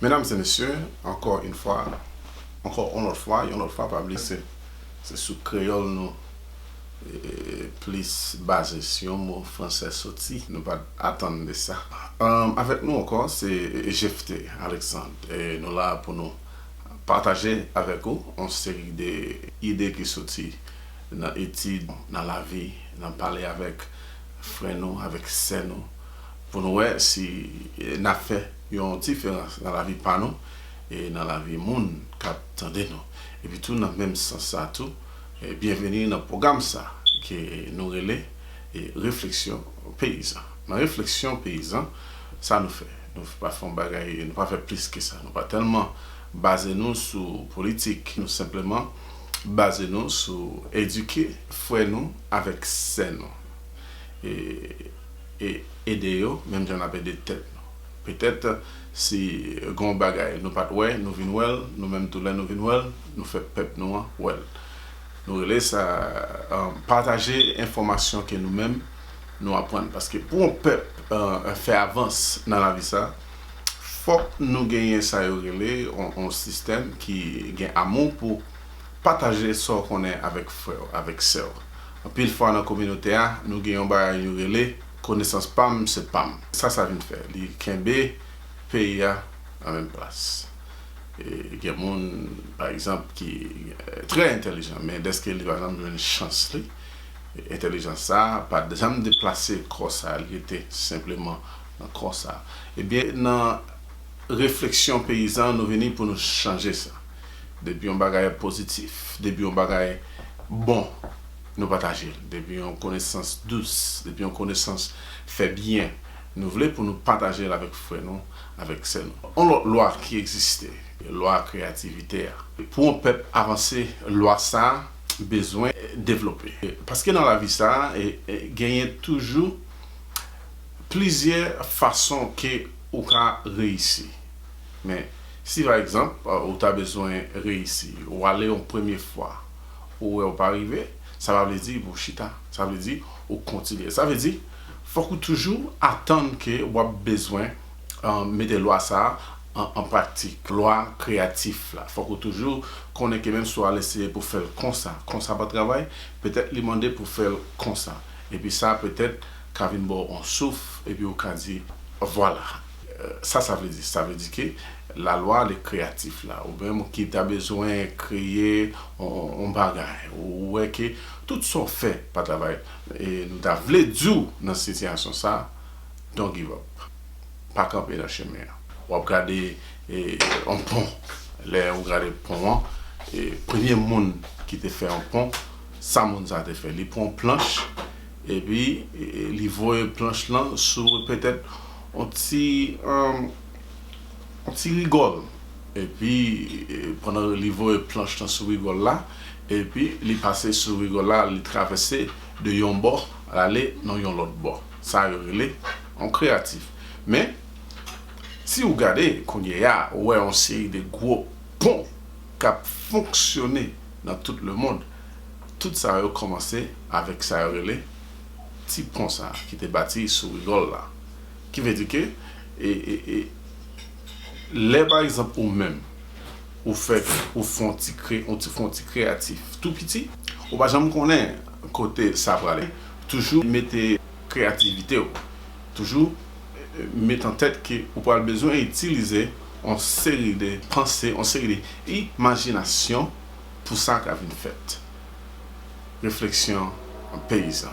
Medam se mesye, ankò yn fwa, ankò on lòt fwa, yon lòt fwa pa bliye se se sou kreyòl nou plis baze si yon mo fransè soti nou pat atann de sa. Avèk nou ankò se Jephté Alexandre e nou la pou nou pataje avèk ou on seri de ide ki soti nan etid, nan lavi, nan pale avèk frè nou, avèk sè nou. Pou nou wè si n ap fè yon diferans nan lavi pa nou e nan lavi moun k ap tande nou. Epitou nan menm sans sa tou, byenveni nan pwogram sa ke nou rele Refleksyon Peyizan. Nan Refleksyon Peyizan, sa nou fè? Nou pa fè yon bagay, nou pa fè plis ke sa. Nou pa tèlman baze nou sou politik. Nou senpleman baze nou sou edike frè nou avèk sè nou. ede yo menm jan n ap ede tèt nou. Petèt, si gen yon bagay nou pa t wè, nou vin wè l, nou menm tou lè nou vin wè l, nou fè pèp nou an wè l. Nou rele sa pataje enfòmasyon ke nou menm nou aprann. Paske pou yon pèp fè avans nan lavi sa, fòk nou genyen sa yo rele yon sistèm ki gen amou pou pataje sa w konnen avèk frè w, avèk sè w. Anpil fwa nan kominote a, nou gen yon bagay yo rele, konesans pa m se pa m. Sa sa vin fè? Li kenbe peyi a nan menm plas. E gen moun, pa egzanp, ki trè entelijan, men dèske li pa janm jwenn chans li, entelijans sa a pa janm deplase kò sa a, li rete senpleman nan kò sa a. Ebyen, nan refleksyon peyizan, nou vini pou nou chanje sa. Depi yon bagay pozitif, depi yon bagay bon, nou pataje l. Depi yon konesans dous, depi yon konesans fè byen, nou vle pou nou pataje l avèk frè nou, avèk sè nou. Yon lòt lwa ki egziste, lwa kreyativite a. Pou yon pèp avanse, lwa sa a bezwen devlope. Paske nan lavi sa a, genyen toujou plizyè fason ke ou ka reyisi. Men, si pa egzanp, ou ta bezwen reyisi, ou ale yon premye fwa, ou wè ou pa rive, sa pa vle di pou w chita, sa vle di ou kontinye. Sa vle di, fòk ou toujou atann ke w ap bezwen mete lwa sa a an pratik, lwa kreyatif la. Fòk ou toujou konnen ke menmsi w al eseye pou w fè l konsa, konsa pa travay, petèt li mande pou w fè l konsa. Epi sa petèt ka vin ba w yon souf, epi ou ka di, vwala! Sa sa vle di? Sa vle di ke lalwa le kreyatif la, ou menm ki ta bezwen kreye yon bagay, ou wè ke tout sa w fè pa travay, e nou ta vle di w nan sitiyasyon sa, don't give up. Pa kanpe nan chemen an. W ap gade yon pon, lè ou gade pon an, premye moun ki te fè yon pon, sa moun sa te fè? Li pran yon planch, epi li voye planch lan sou petèt On ti On ti rigòl Epi pandan li voye planch lan sou rigòl la Epi li pase sou rigòl la li travèse de yon bò lale nan yon lòt bò Sa yo rele on kreyatif Men si ou gade kounyea ou wè on seri de gwo pon k ap fonksyone nan tout lemond Tout sa yo kòmanse avèk sa yo rele ti pon sa ki te bati sou rigòl la. Ki vle di ke e lè pa egzanp ou menm ou fè ou fè yon ti kre ou ti fè yon ti kreyatif tou piti ou pa janm konnen kote sa prale toujou mete kreyativite ou toujou met an tèt ke ou pral bezwen itilize yon seri de panse yon seri de imajinasyon pou sa ka vin fèt. refleksyon peyizan.